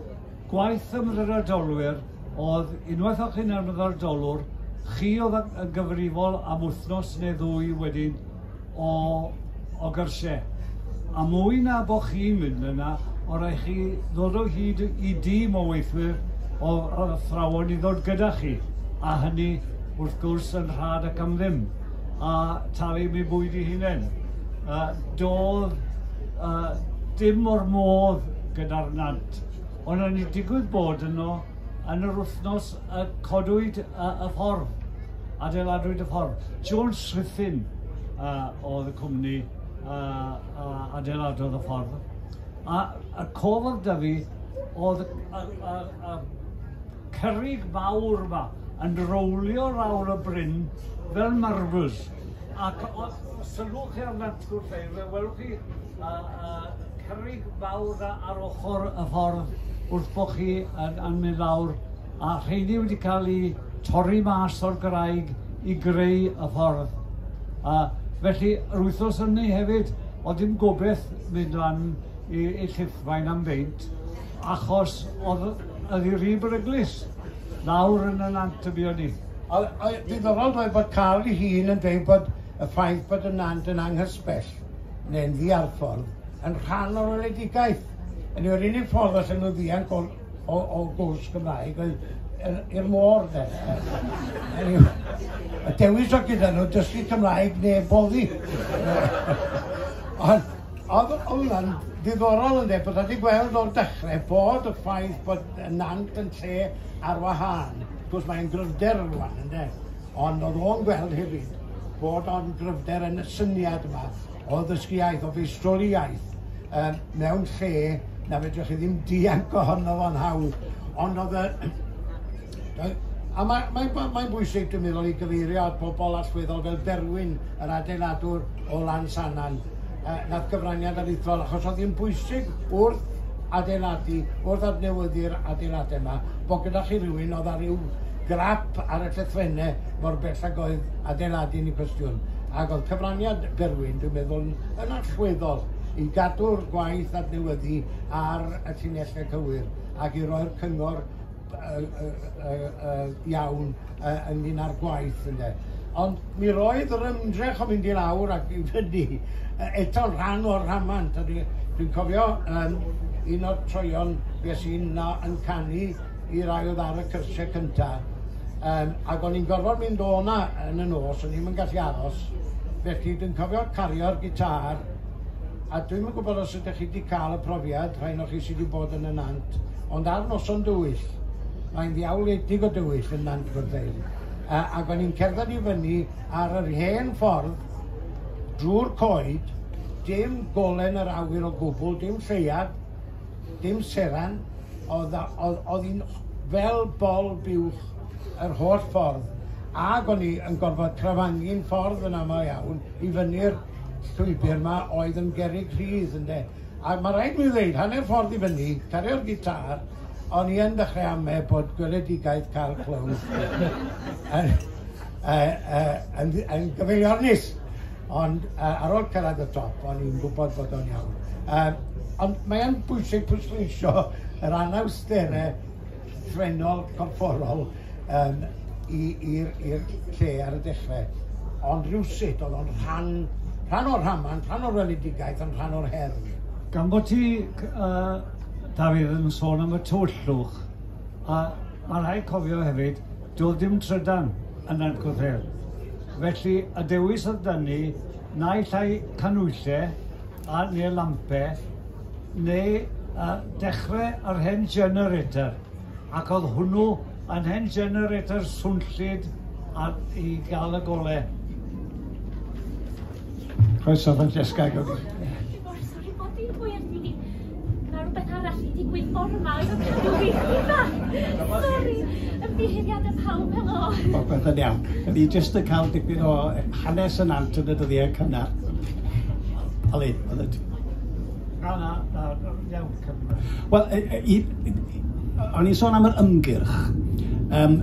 [SPEAKER 4] Gwaith ymddiriedolwyr oedd unwaith o'ch chi'n ymddiriedolwr, chi oedd yn, yn gyfrifol am wythnos neu ddwy wedyn o, o gyrsiau. A mwy na bod chi'n mynd yna, o rai chi ddod o hyd i dîm o weithwyr o athrawon i ddod gyda chi, a hynny wrth gwrs yn rhad ac am ddim, a talu mi bwyd i hunain. Uh, doedd uh, dim o'r modd gyda'r nan. ond o'n i'n digwydd bod yno yn yr wythnos y codwyd y, y ffordd, adeiladwyd y ffordd. Jones Rhyffin uh, oedd y cwmni uh, uh, adeiladodd y ffordd. A, a cofodd da fi oedd y, y, y, cerrig mawr yma yn rowlio rawr y bryn fel marfus. Ac os sylwch chi ar natgwr fe, welwch chi A, a cerrig fawr ar ochr y ffordd wrth bo chi yn, yn mynd lawr, a rheini wedi cael eu torri mas o'r graig i greu y ffordd. A felly, yr wythnos hynny hefyd, oedd dim gobeith mynd lan i, i llithfaen am beint, achos oedd y ddirib yr eglwys lawr yn y nant y buon ni. A, a diddorol
[SPEAKER 3] dweud bod Carl ei hun yn dweud bod y ffaith bod y nant yn anghysbell neu'n ddiarffordd yn rhan o'r weledigaeth. Yn yr unig ffordd allan nhw ddianc o, o, o gwrs Gymraeg oedd i'r môr de. Y dewis o gyda nhw dysgu Cymraeg neu boddi. Ond oedd hwnna'n ddiddorol yn de, bod wedi gweld o'r dechrau bod y ffaith bod y nant yn lle ar wahân. Cwrs mae'n gryfder yn rwan yn de. ond o'dd o'n gweld hefyd bod o'n gryfder yn y syniad yma o ddysgu iaith, o feistroli iaith, um, mewn lle na fedrwch chi ddim dianc ohono fo'n hawdd. Ond oedd y... A mae'n mae, mae, mae bwysig, dwi'n meddwl, i gyfeirio at bobl allweddol fel Berwyn, yr adeiladwr o Lan Sanan, yy nath gyfraniad aruthrol achos o'dd hi'n bwysig wrth adeiladu, wrth adnewyddu'r adeilade 'ma, bo' gyda chi rywun o'dd â ryw grap ar y llythrenne mor bell ag oedd adeiladu yn 'i cwestiwn, ag o'dd cyfraniad Berwyn, dwi'n meddwl, yn allweddol i gadw'r gwaith adnewyddu ar y llinelle cywir ac i roi'r cyngor yy yy yy yy iawn yy ynglyn â'r gwaith ynde. Ond mi roedd yr ymdrech o mynd i lawr ac i fyny yy eto'n rhan o'r rhamant a dwi dwi'n cofio yym un o'r troeon fues i'n yno yn canu i'r ail ddar y cyrsiau cynta yym ac o'n i'n gorfod mynd o 'na yn y nos o'n i'm yn gallu aros felly dwi'n cofio cario'r gitâr a dwi'm yn gwybod os ydych chi 'di cael y profiad rhai ohonoch chi sy' 'di bod yn y nant ond ar noson dwys, mae'n ddiawledig o dywys yn Nant Gwrtheyrn, a, ac o'n i'n cerdded i fyny ar yr hen ffordd, drwy'r coed, dim golen yr awyr o gwbl, dim lleiad, dim seran, oedd, oedd, oedd hi'n fel bol buwch yr holl ffordd, ac o'n i yn gorfod crafangu'n ffordd yn aml iawn i fyny'r llwybr yma oedd yn gerig rhydd ynde. A ma' raid mi ddeud, hanner ffordd i fyny, cario'r gitâr, o'n i yn dechrau ame' bod gweledigaeth Carl Clwm yn yy yy yn ddi- yn gyfeiliornus, ond yy ar ôl cyrraedd y top, o'n i'n gwybod bod o'n iawn. Yym ond mae yn bwysig pwysleisio yr anawstere threnor corfforol yym i i'r i'r lle ar y dechre ond rywsut o'dd o'n rhan rhan o'r rhaman, rhan o'r weledigaeth ond rhan o'r her. Gan bo ti
[SPEAKER 4] c- yy Dafydd yn sôn am y tywyllwch a ma' rhaid cofio hefyd do'dd dim trydan yn Nant Gwrtheuyn felly y dewis o'dd 'da ni naill ai canwylle a neu'r lampe neu uh, dechrau yr hen generator ac oedd hwnnw yn hen generator swnllyd ar, i gael y golau. Croeso, Francesca. Croeso, sori
[SPEAKER 5] bod i'n hwyr ni. Mae rhywbeth arall wedi digwydd bore yma, oedd o'n cadw fi ifanc. Sori, ymddiheuriad y pawb, helo.
[SPEAKER 1] Popeth yn iawn. Ydy jyst yn cael dipyn o hanes yn ant yn y dyddiau cynnar. Ali, oedd y... Na, na,
[SPEAKER 4] na, iawn. Wel,
[SPEAKER 1] o'n i'n sôn am yr ymgyrch, um,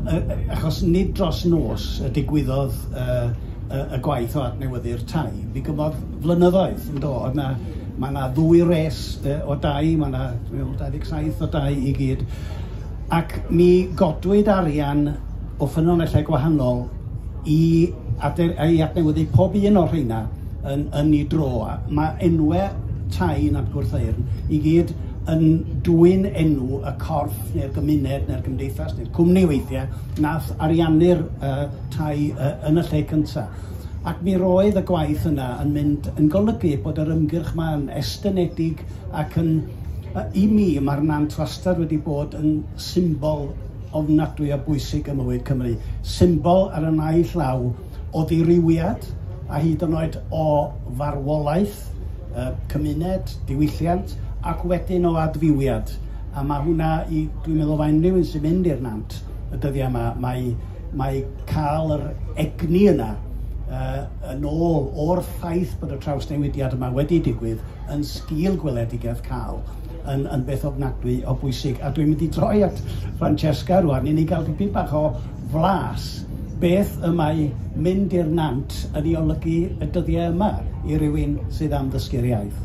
[SPEAKER 1] achos nid dros nos y digwyddodd uh, y gwaith o adnewyddu'r tai. Mi gymodd flynyddoedd yn dod, na, mae yna ddwy res uh, o dai, mae yna 27 o dai i gyd, ac mi godwyd arian o ffynonellau gwahanol i, ader, i adnewyddu pob un o'r rheina yn, yn ei dro. Mae enwau tai yn Antgwrtheyrn i gyd yn dwy'n enw y corff neu'r gymuned neu'r gymdeithas neu'r cwmni weithiau nath ariannu'r uh, tai uh, yn y lle cyntaf. ac mi roedd y gwaith yna yn mynd yn golygu bod yr ymgyrch 'ma yn estynedig ac yn yy i mi ma'r nant wastad wedi bod yn symbol ofnadwy o bwysig ym mywyd Cymru, symbol ar y naill law o ddirywiad a hyd yn oed o farwolaeth yy cymuned, diwylliant ac wedyn o adfywiad a ma' hwnna i dwi'n meddwl ma' unrhyw un sy'n mynd i'r nant y dyddia' 'ma mae Mae cael yr egni yna yy yn ôl o'r ffaith bod y trawsnewidiad yma wedi digwydd yn sgil gweledigaeth Karl yn yn beth ofnadwy o bwysig. A dwi'n mynd i droi at Francesca rŵan i ni gael dipyn bach o flas beth y mae mynd i'r nant yn ei olygu y dyddiau yma i rywun sydd am ddysgu'r iaith.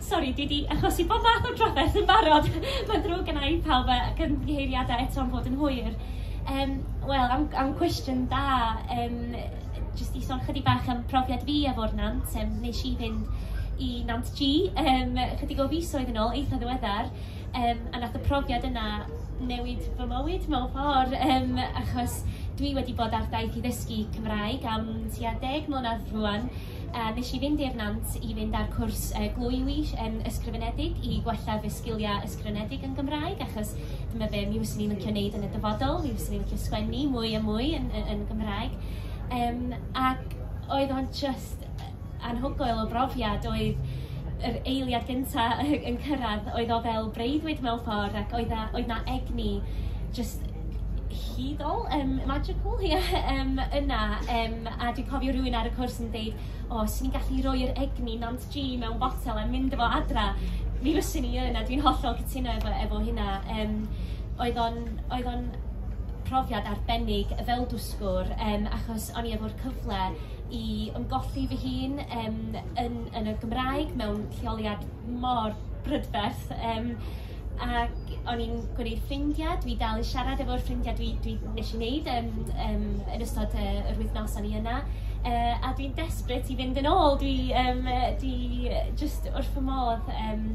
[SPEAKER 5] Sori, dwi 'di achosi pob math o drafferth yn barod! Mae'n ddrwg genna i, pawb, a cymddiheuriadau eto am fod yn hwyr. Yym, wel, am am cwestiwn da, yym, jyst i sôn chydig bach am profiad fi efo'r nant, yym, wnes i fynd i Nant-G, yym, chydig o fisoedd yn ôl, eitha ddiweddar, yym, a wnaeth y profiad yna newid fy mywyd mewn ffordd, yym, achos dwi wedi bod ar daith i ddysgu Cymraeg am tua deg mlynedd rŵan. Yy nesh i fynd i'r Nant i fynd ar cwrs yy gloywi yym ysgrifenedig i gwella fy sgilia ysgrifenedig yn Gymraeg achos dyma be' mi fyswn i'n licio neud yn y dyfodol, mi fyswn i'n licio sgwennu mwy a mwy yn yy yn Gymraeg yym ac oedd o'n jyst yy anhygoel o brofiad oedd yr eiliad gynta yy yn cyrradd oedd o fel breuddwyd mewn ffor ac oedd a oedd 'na egni jyst hudol yym magical ie yym yna yym a dwi'n cofio rywun ar y cwrs yn deud o os o'n i'n gallu roi'r egni nant G mewn botel a mynd efo adra mi fyswn i yn a dwi'n hollol cytuno efo efo hynna yym oedd o'n oedd o'n profiad arbennig y fel dwsgwr yym achos o'n i efo'r cyfle i ymgolli fy hun yym yn yn y Gymraeg mewn lleoliad mor brydferth yym Ac o'n i'n gwneud ffrindiau, dwi dal i siarad efo'r ffrindiau dwi dwi nes i neud yym yym yn ystod yy yr wythnos o'n i yna yy a dwi'n desperate i fynd yn ôl dwi yym yy dwi yy jyst wrth fy modd yym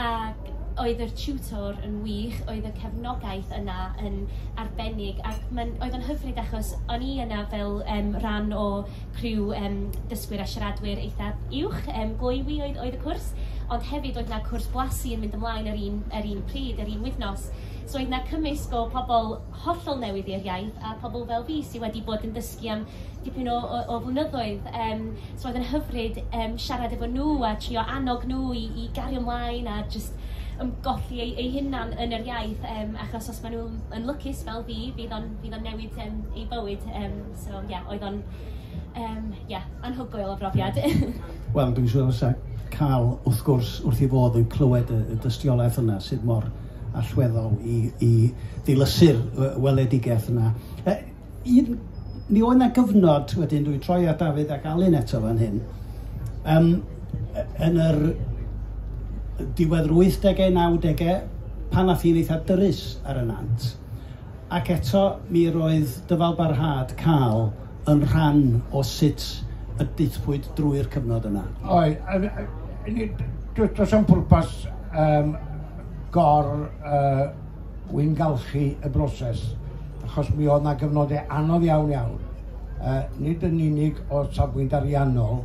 [SPEAKER 5] ac oedd yr tiwtor yn wych, oedd y cefnogaeth yna yn arbennig ac ma'n oedd o'n hyfryd achos o'n i yna fel yym rhan o rhyw um, dysgwyr a siaradwyr eitha uwch, um, gloewi oedd, oedd y cwrs, ond hefyd oedd yna cwrs blasu yn mynd ymlaen yr un, yr un pryd, yr un wythnos. So oedd yna cymysg o pobl hollol newydd i'r iaith a pobl fel fi sydd wedi bod yn dysgu am dipyn o, o, o flynyddoedd. Um, so oedd yn hyfryd um, siarad efo nhw a trio annog nhw i, i gario ymlaen a just ymgolli ei, ei hunan yn yr iaith, um, achos os maen nhw'n yn lwcus fel fi, bydd o'n, bydd o'n newid um, ei bywyd. Um, So
[SPEAKER 1] ie, oedd o'n
[SPEAKER 5] yym ie, anhygoel
[SPEAKER 1] o
[SPEAKER 5] brofiad. Wel,
[SPEAKER 1] dwi'n siŵr fysa
[SPEAKER 5] cael,
[SPEAKER 1] wrth gwrs, wrth i fod yn clywed y, y dystiolaeth yna, sydd mor allweddol i, i ddilysu'r weledigaeth yna. E, un, mi oedd yna gyfnod, wedyn dwi'n troi at Dafydd ac Alun eto fan hyn, um, yn yr diwedd 80au, 90au, pan nath hi'n eitha dyrus ar y nant, Ac eto, mi roedd dyfalbarhad Carl yn rhan o sut y daethpwyd drwy'r cyfnod yna. Oedd,
[SPEAKER 3] does am pwrpas um, gor uh, wyngalchu y broses, achos mi oedd yna gyfnodau anodd iawn iawn, uh, nid yn unig o safbwynt ariannol,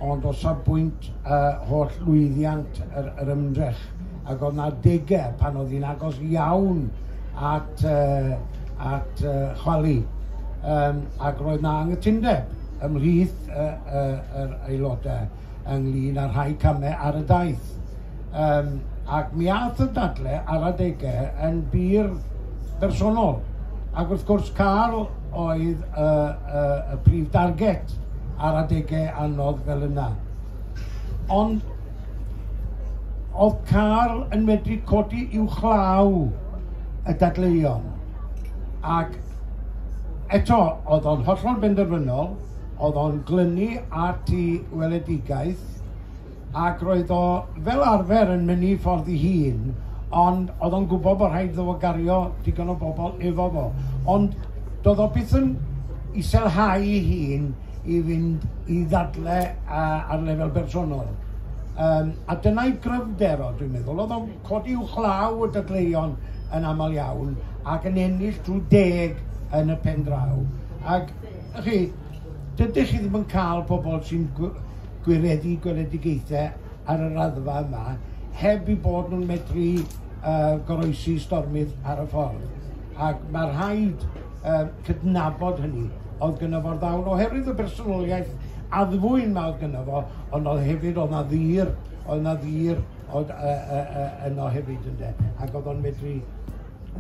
[SPEAKER 3] ond o safbwynt uh, holl lwyddiant yr, yr ymdrech ac oedd 'na dege pan oedd hi'n agos iawn at uh, at uh, chwalu um, ac roedd 'na anghytundeb ymhlith uh, uh, yr aelodau ynglyn â rhai camau ar y daith. Um, ac mi ath y dadle ar adegau yn bir bersonol. Ac wrth gwrs Carl oedd y, y, y prif darget ar adegau anodd fel yna. Ond oedd Karl yn medru codi uwchlaw y dadleuon. Ac eto, oedd o'n hollol benderfynol, oedd o'n glynu at i weledigaeth, ac roedd o fel arfer yn mynd i ffordd i hun, ond oedd o'n gwybod bod rhaid iddo fo gario digon o bobl efo fo. Ond doedd o byth yn iselhau ei hun i fynd i ddadle a, ar lefel bersonol. Um, a dyna'i gryfder o, dwi'n meddwl. Oedd o'n codi i'w chlaw y dadleuon yn aml iawn ac yn ennill drwy deg yn y pen draw. Ac, chi, dydych chi ddim yn cael pobl sy'n gwireddu gweledigaethau ar y raddfa yma heb i bod nhw'n medru uh, goroesi stormydd ar y ffordd. ac ma' rhaid yy cydnabod hynny, o'dd gynno fo'r ddawn oherwydd y bersonoliaeth addfwyn 'ma o'dd gynno fo, ond o'dd hefyd o'dd 'na ddur, oedd 'na ddur o'dd yy yy yy yno hefyd ynde, ac o'dd o'n medru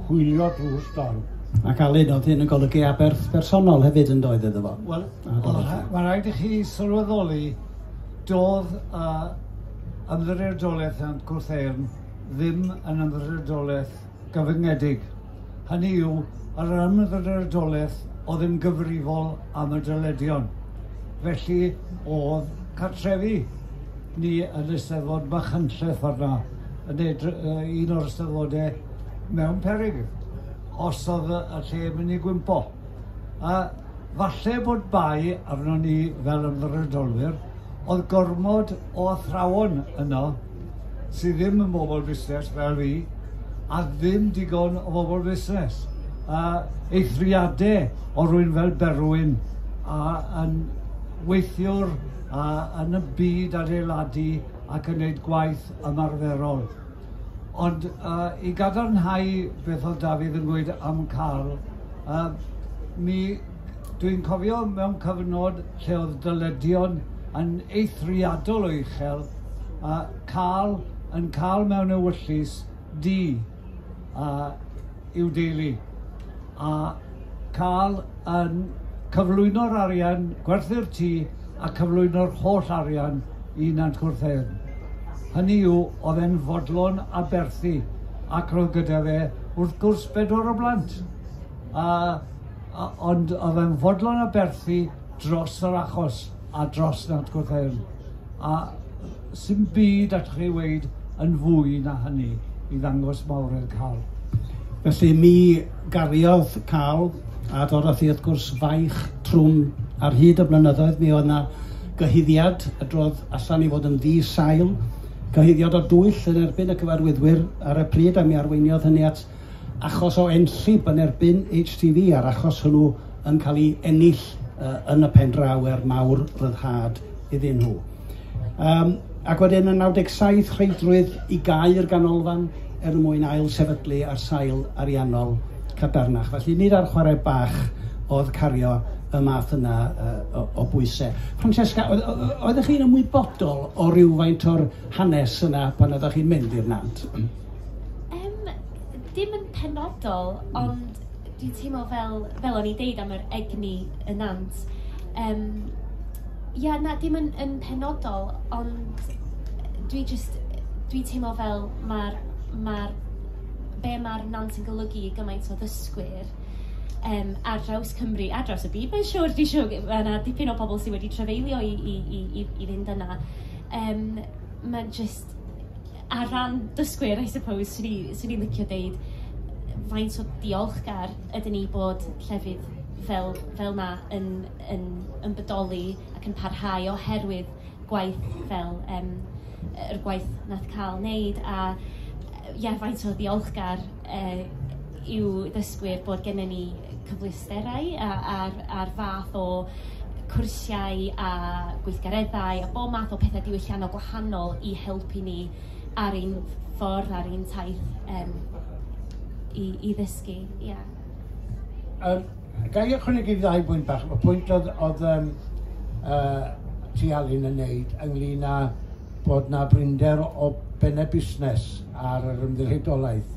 [SPEAKER 3] hwylio drwy'r storm. Ac Alun, oedd
[SPEAKER 1] hyn yn golygu aberth bersonol hefyd yn doedd iddo fo? Wel,
[SPEAKER 4] mae'n rhaid i chi sylweddoli, doedd uh, ymddiriedolaeth yn Cwrtheyrn ddim yn ymddiriedolaeth gyfyngedig, hynny yw, yr ymddiriedolaeth oedd yn gyfrifol am y dyledion. Felly, oedd cartrefi ni yn y Steddfod Machynlleth fan'na, yn ne- dr- yy un o'r Eisteddfode mewn peryg, os oedd y y lle yn mynd i gwympo, a falle bod bai arnon ni fel ymddiriedolwyr, oedd gormod o athrawon yno, sy ddim yn bobol busnes fel fi, a ddim digon o bobol fusnes, a eithriade o rywun fel Berwyn, a yn weithiwr a yn y byd adeiladu ac yn neud gwaith ymarferol. Ond yy i gadarnhau beth o'dd Dafydd yn gweud am Karl, yy mi Dwi'n cofio mewn cyfnod lle oedd dyledion yn eithriadol o uchel a cael yn cael mewn ewyllys du a i'w deulu a cael yn cyflwyno'r arian, gwerthu'r tŷ a cyflwyno'r holl arian i Nant Gwrtheyrn. Hynny yw, oedd e'n fodlon aberthu ac roedd gyda fe wrth gwrs bedwar o blant. A a- ond o'dd e'n fodlon aberthu dros yr achos a dros Nant Gwrtheyrn, a sdim byd allwch chi weud yn fwy na hynny i ddangos mawredd Karl. Felly mi
[SPEAKER 1] gariodd Karl a Dorothy wrth gwrs faich trwm ar hyd y blynyddoedd, mi oedd 'na gyhuddiad y drodd allan i fod yn ddi-sail, cyhuddiad o dwyll yn erbyn y cyfarwyddwyr ar y pryd, a mi arweiniodd hynny at achos o enllib yn erbyn HTV a'r achos hwnnw yn cael ei ennill uh, yn y pen draw er mawr ryddhad iddyn nhw. Um, ac wedyn yn 97 rheidrwydd i gau'r ganolfan er mwyn ail sefydlu ar sail ariannol cadarnach. Felly nid ar chwarae bach oedd cario y math yna uh, o, o bwysau. Francesca, oeddech chi'n ymwybodol o rywfaint o'r hanes yna pan oeddech chi'n mynd i'r nant? Um,
[SPEAKER 5] dim yn penodol, hmm. ond dwi'n teimlo fel, fel o'n i'n deud am yr egni y nant. Um, ia, na, dim yn, yn penodol, ond dwi just, dwi'n teimlo fel mae'r, ma be mae'r nant yn golygu i gymaint o ddysgwyr um, ar draws Cymru, ar draws y byd, mae'n siwr, dwi'n siwr, mae yna dipyn o bobl sydd wedi trefeilio i, i, i, i, i fynd yna. Um, mae'n just Ar ran dysgwyr, I suppose, swn i swn i'n licio deud faint o diolchgar ydyn ni bod llefydd fel fel 'ma yn yn yn bodoli ac yn parhau oherwydd gwaith fel yym yy yr gwaith nath Carl neud a yy ie faint o ddiolchgar yy i'w ddysgwyr bod gennym ni cyfleusterau a a'r a'r fath o cwrsiau a gweithgareddau a bob math o pethe diwylliannol gwahanol i helpu ni ar ein ffordd ar ein taith yym i i ddysgu ia. Yym
[SPEAKER 3] ga i ychwanegu ddau bwynt bach, y pwynt oedd oedd yym yy ti Alun yn wneud ynglyn â bod 'na brinder o benne busnes ar yr ymddiriedolaeth.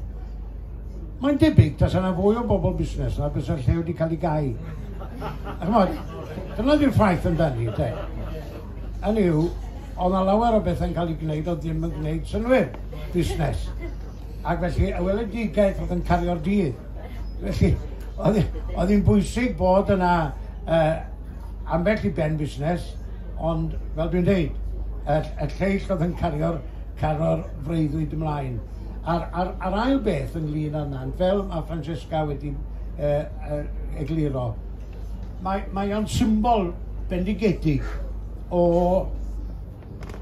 [SPEAKER 3] Mae'n debyg, tas yna fwy o bobl busnes na bys y lle wedi cael ei gau. Chymod, dyna di'r ffaith amdani, te. Yn yw, oedd yna lawer o bethau'n cael ei gwneud oedd ddim yn gwneud synwyr busnes. Ac felly, y weledigaeth oedd yn cario'r dydd. Felly, oedd, oedd hi'n bwysig bod yna uh, ambell i ben busnes, ond fel dwi'n dweud, y, y lleill oedd yn cario'r cario'r freuddwyd ymlaen. A'r, ar, ar ail beth ynglyn â nan, fel mae Francesca wedi uh, uh, egluro, mae, mae o'n symbol bendigedig o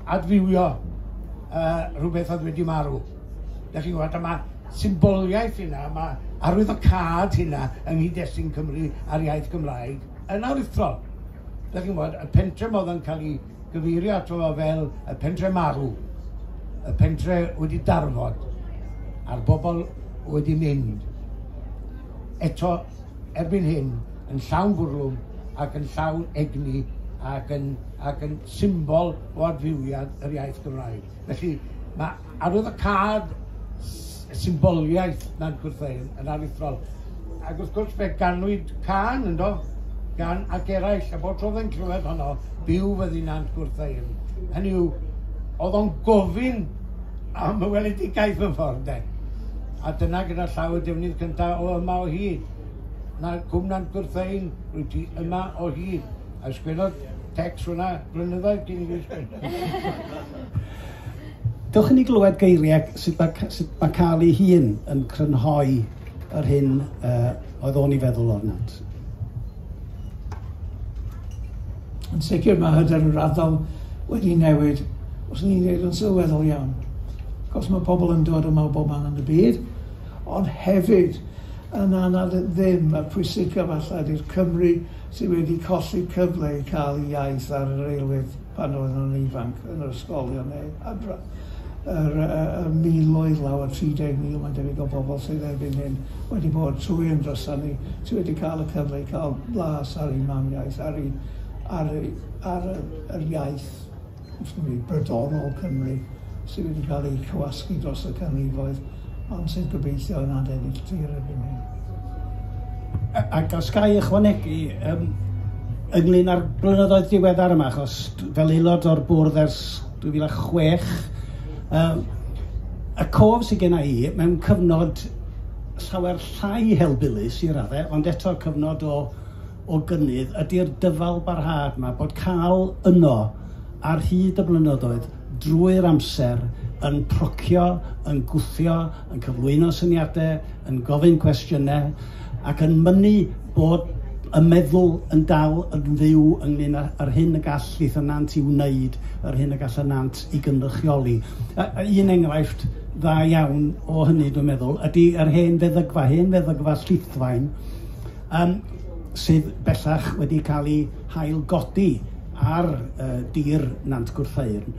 [SPEAKER 3] adfywio uh, rhywbeth oedd wedi marw. Da chi'n gwybod, yma symboliaeth yna, mae arwydd o cad hynna yng nghyd-destun Cymru a'r iaith Gymraeg yn aruthrol. Da chi'n gwybod, y pentre modd yn cael ei gyfeirio ato fo fel y pentre marw, y pentre wedi darfod, a'r bobl wedi mynd. Eto, erbyn hyn, yn llawn bwrlwm ac yn llawn egni ac yn, ac yn symbol o adfywiad yr iaith Gymraeg. Felly, mae arwyddocâd s- symboliaeth Nant Gwrtheyrn yn aruthrol. Ac wrth gwrs, fe ganwyd cân ynddo gan ac eraill, a bob tro fe'n clywed honno, byw fy ddinant gwrtheyrn. Hynny yw, oedd o'n gofyn am y weledigaeth mewn ffordd, de. A dyna gyda llaw y defnydd cyntaf o yma o hyd. Na, cwm Nant Gwrtheyrn, rwy ti yma o hyd. A sgwennodd
[SPEAKER 1] tecs hwnna blynyddoedd cyn i fi sgwennu. Dewch i ni glywed geiriau sut mae, sut mae cael ei hun yn crynhoi yr hyn uh, oedd o'n i feddwl ornat.
[SPEAKER 2] Yn sicr mae hyder yr ardal wedi newid os ni'n gwneud yn sylweddol iawn. Cos mae pobl yn dod yma o bob man yn y byd, ond hefyd yn anad ddim a pwysig efallai ydy'r Cymry sydd wedi colli cyfle i gael eu iaith ar yr aelwyd pan roedden nhw'n ifanc yn yr ysgolion neu adra. Yr y, y miloedd, lawer 30,000 mae'n debyg o bobl sydd erbyn hyn wedi bod trwy yn drysa ni, sydd wedi cael y cyfle i cael blas ar eu mamiaith, ar eu, ar eu, ar y, yr iaith. Wrth gwrs, nid brodorol Cymru sydd wedi cael eu cywasgu dros y canrifoedd, ond sydd gobeithio yn adenill tir erbyn hyn. A-
[SPEAKER 1] ac os ga i ychwanegu, um, ynglyn â'r blynyddoedd diweddar yma, achos fel aelod o'r bwrdd ers 2006, um, y cof sydd gen i mewn cyfnod llawer llai helbulus i raddau, ond eto cyfnod o o gynnydd ydy'r dyfalbarhad 'ma bod cael yno ar hyd y blynyddoedd drwy'r amser yn procio, yn gwthio, yn cyflwyno syniadau, yn gofyn cwestiynau ac yn mynnu bod y meddwl yn dal yn fyw ynglyn â yr hyn y gall lleithio Nant i wneud, yr hyn y gall y Nant i gynrychioli. A, a un enghraifft dda iawn o hynny dwi'n meddwl ydy yr hen feddygfa, hen feddygfa Llithfaen Yym, sydd bellach wedi cael ei hail-godi ar yy dir Nant Gwrtheyrn.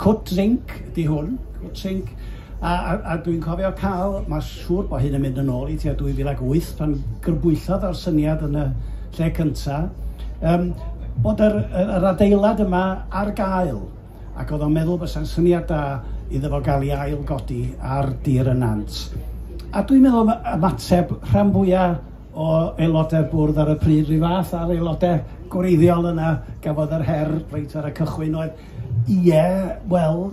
[SPEAKER 1] Cwt zinc ydy hwn, cwt zinc, a a a dwi'n cofio cael, ma' siŵr bo' hyn yn mynd yn ôl i tua 2008, pan grybwyllodd o'r syniad yn y lle cynta, yym bod yr yy yr adeilad yma ar gael. ac oedd o'n meddwl fysa'n syniad da iddo fo gael ei ail godi ar dir y nant. A dwi'n meddwl ma- ymateb rhan fwya o aelodau'r bwrdd ar y pryd, rhyw fath ar aelodau gwreiddiol yna, gafodd yr her reit ar y cychwyn oedd, ie, wel,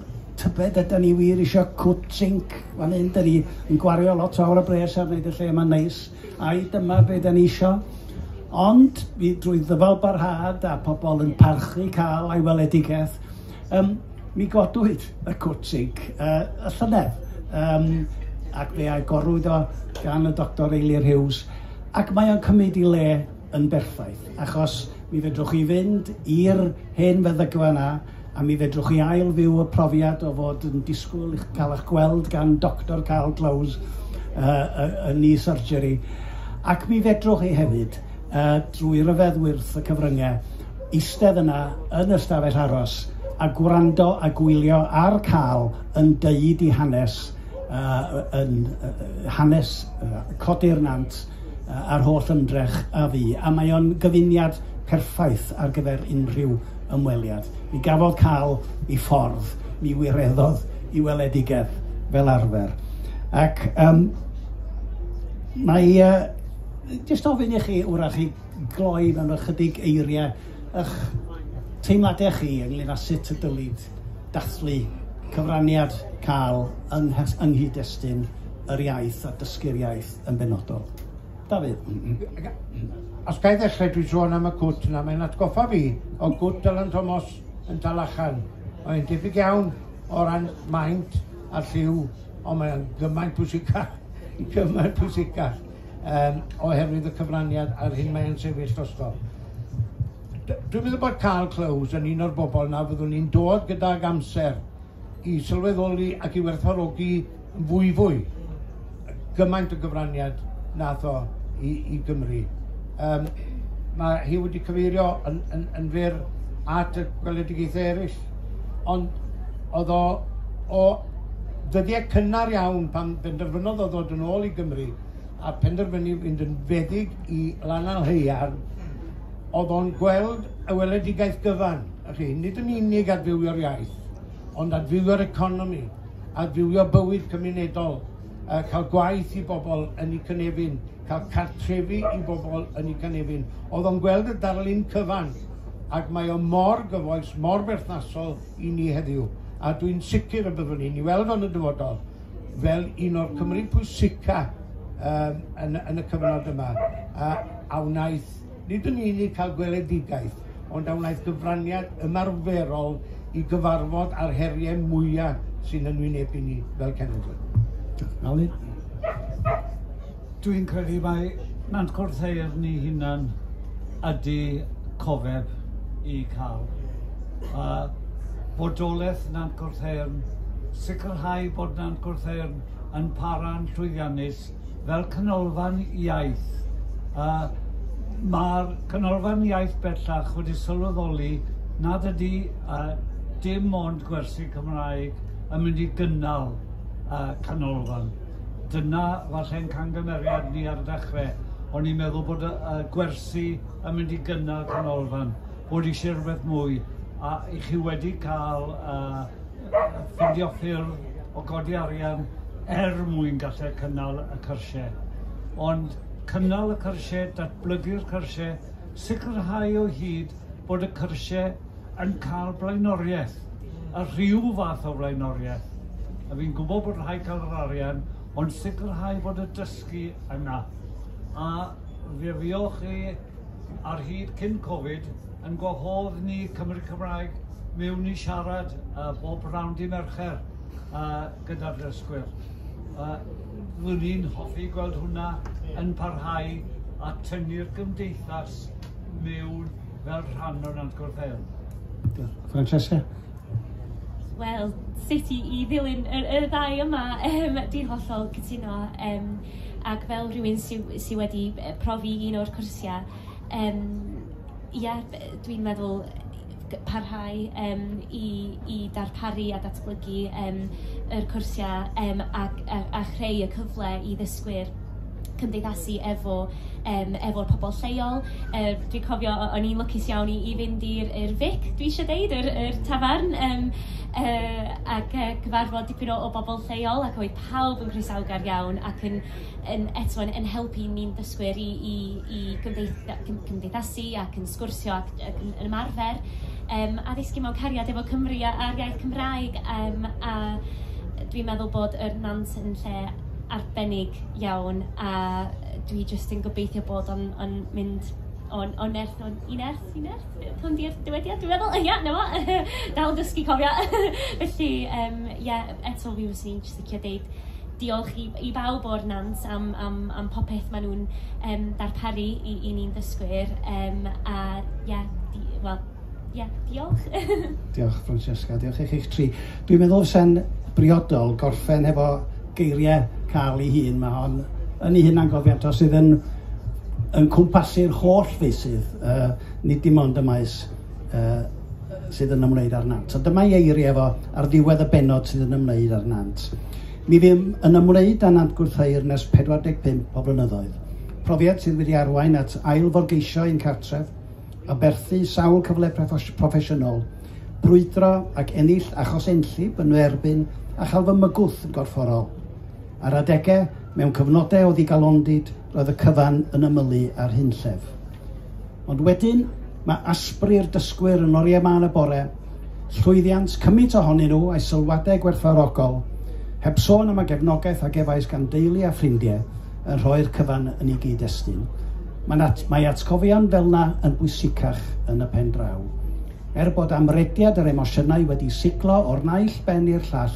[SPEAKER 1] tybed yda ni wir isio cwt zinc fan hyn, 'dan ni yn gwario lot o aur a bres ar wneud y lle yma'n neis. Ai dyma be da ni isio? Ond, mi drwy ddyfalbarhad a pobl yn parchu cael ei weledigaeth, um, mi godwyd y cwtsig uh, y llynedd. Um, ac fe a'i gorwyd o gan y doctor Eilir Hughes. Ac mae o'n cymryd i le yn berffaith, achos mi fedrwch chi fynd i'r hen feddygon yna A mi fedrwch chi ail-fyw y profiad o fod yn disgwyl i'ch cael eich gweld gan Doctor Karl Clowes yy yy yn knee surgery, ac mi fedrwch chi hefyd, yy drwy ryfedd wyrth y cyfryngau, eistedd yna yn y stafell aros a gwrando a gwylio ar Karl yn deud ei hanes, yy yn yy hanes yy codi'r nant yy a'r holl ymdrech a fu, a mae o'n gyfuniad perffaith ar gyfer unrhyw ymweliad. Mi gafodd cael i ffordd, mi wireddodd i weledigaeth fel arfer. Ac um, mae uh, jyst ofyn i chi wrach i gloi mewn ychydig eiriau eich teimladau chi ynglyn â sut y dylid dathlu cyfraniad cael yng, yng nghyd-destun yr iaith a dysgu'r iaith yn benodol. Dafydd,
[SPEAKER 3] os ga i ddechrau, dwi'n sôn am y cwt yna, mae'n atgoffa fi o gwt Dylan Tomos yn Talachan. Mae'n debyg iawn o ran maint a lliw, ond mae'n gymaint pwysica, gymaint pwysica, um, oherwydd y cyfraniad a'r hyn mae'n sefyll drosto. Dwi'n meddwl bod Carl Clowes yn un o'r bobl na fyddwn ni'n dod gydag amser i sylweddoli ac i werthfarogi yn fwy fwy. Gymaint o gyfraniad nath o i, i Gymru. Um, mae hi wedi cyfeirio yn, yn, yn fyr at y gweledigaethau eraill. Ond oedd o, o dyddiau cynnar iawn pan benderfynodd o ddod yn ôl i Gymru a penderfynu fynd yn feddig i Lanal Heiar, oedd o'n gweld y weledigaeth gyfan, chi, nid yn unig adfywio'r iaith, ond adfywio'r economi, adfywio bywyd cymunedol, yy ca'l gwaith i bobol yn 'u cynefin, ca'l cartrefi i bobol yn 'u cynefin. O'dd o'n gweld y darlun cyfan, ac mae o mor gyfoes, mor berthnasol i ni heddiw, a dwi'n sicr y byddwn ni'n 'i weld o yn y dyfodol fel un o'r Cymry pwysica yym yn y yn y cyfnod yma, a a wnaeth Nid yn unig cael gweledigaeth, ond a wnaeth gyfraniad ymarferol i gyfarfod â'r heriau mwyaf sy'n yn wynebu ni fel cenedl. Alun?
[SPEAKER 4] Dwi'n credu mai Nant Corthaeir ni hunan ydy cofeb i cael. A bodolaeth Nant Corthaeir, sicrhau bod Nant Corthaeir yn para'n llwyddiannus fel canolfan iaith, a ma'r canolfan iaith bellach wedi sylweddoli nad ydi a dim ond gwersi Cymraeg yn mynd i gynnal y canolfan. Dyna falle'n cangymeriad ni ar y dechrau, o'n i'n meddwl bod y, y gwersi yn mynd i gynnal canolfan, bod eisiau rhywbeth mwy, a i chi wedi cael uh, ffindio ffyrdd o godi arian er mwyn gallu cynnal y cyrsiau. Ond cynnal y cyrsiau, datblygu'r cyrsiau, sicrhau o hyd bod y cyrsiau yn cael blaenoriaeth, a rhyw fath o flaenoriaeth. A fi'n gwybod bod rhai cael yr arian, ond sicrhau bod y dysgu yna. A fe fuoch chi ar hyd cyn Covid, Yn gwahodd ni Cymry Cymraeg mewn i siarad uh, bob rhan di Mercher uh, gyda'r dysgwyr. Uh, Rwy'n ni'n hoffi gweld hwnna yn parhau a tynnu'r gymdeithas mewn fel rhan o'n antgorfewn. Francesca?
[SPEAKER 5] Wel, sut i, i ddilyn y, y ddau yma, um, dwi'n hollol cytuno. Um, ac fel rhywun sydd sy wedi profi un o'r cwrsiau, um, Ie b- yy dwi'n meddwl yy g- parhau yym i i darparu a datblygu yym yr cwrsia' yym ac a a chreu y cyfle i ddysgwyr cymdeithasu efo yym efo'r pobol lleol yy dwi'n cofio o- o'n i'n lwcus iawn i i fynd i'r i'r Vic dwi isio deud yr yr tafarn yym yy ac yy cyfarfod dipyn o o bobol lleol ac oedd pawb yn groesawgar iawn ac yn yn eto yn yn helpu ni'n dysgwyr i i i gymdeitha- cym- cymdeithasu ac yn sgwrsio ac yy yn yn ymarfer yym a ddysgu mewn cariad efo Cymru a a'r iaith Cymraeg yym a yy dwi'n meddwl bod yr Nant yn lle arbennig iawn a yy dwi jyst yn gobeithio bod o'n o'n mynd o'n o'n nerth o'n i nerth i nerth yy hwn di'r dywediad dwi'n meddwl ia 'na fo dal yn dysgu cofia felly yym ia eto fi fyswn i'n jyst licio deud Diolch i i bawb o'r Nant am am am popeth maen nhw'n yym darparu i i ni'n ddysgwyr yym a ie di- wel ie diolch. Diolch
[SPEAKER 1] Francesca, diolch i chi'ch tri. Dwi'n meddwl fysa'n briodol gorffen hefo geiriau Carl ei hun, mae hon yn ei hunangofianto sydd yn yn cwmpasu'r holl feysydd, yy nid dim ond y maes yy sydd yn ymwneud â'r nant. A dyma'i eiriau fo ar ddiwedd y benod sydd yn ymwneud â'r nant. Mi ddim yn ymwneud â nant gwrtheuir nes 45 o flynyddoedd. Profiad sydd wedi arwain at ail forgeisio ein cartref, a berthu sawl cyfle proffesiynol, brwydro ac ennill achos enllib yn fy erbyn a chael fy mygwth yn gorfforol. Ar adegau, mewn cyfnodau o ddigalondid, Roedd y cyfan yn ymylu â'r hunllef. Ond wedyn, mae asbri'r dysgwyr yn oriau mân y bore, llwyddiant cymint ohonyn nhw a'i sylwadau gwerthfawrogol, heb sôn am y gefnogaeth a gefais gan deulu a ffrindiau yn rhoi'r cyfan yn ei gyd-destun. Mae, at, mae atgofion fel na yn bwysicach yn y pen draw. Er bod amrediad yr emosiynau wedi siglo o'r naill ben i'r llall,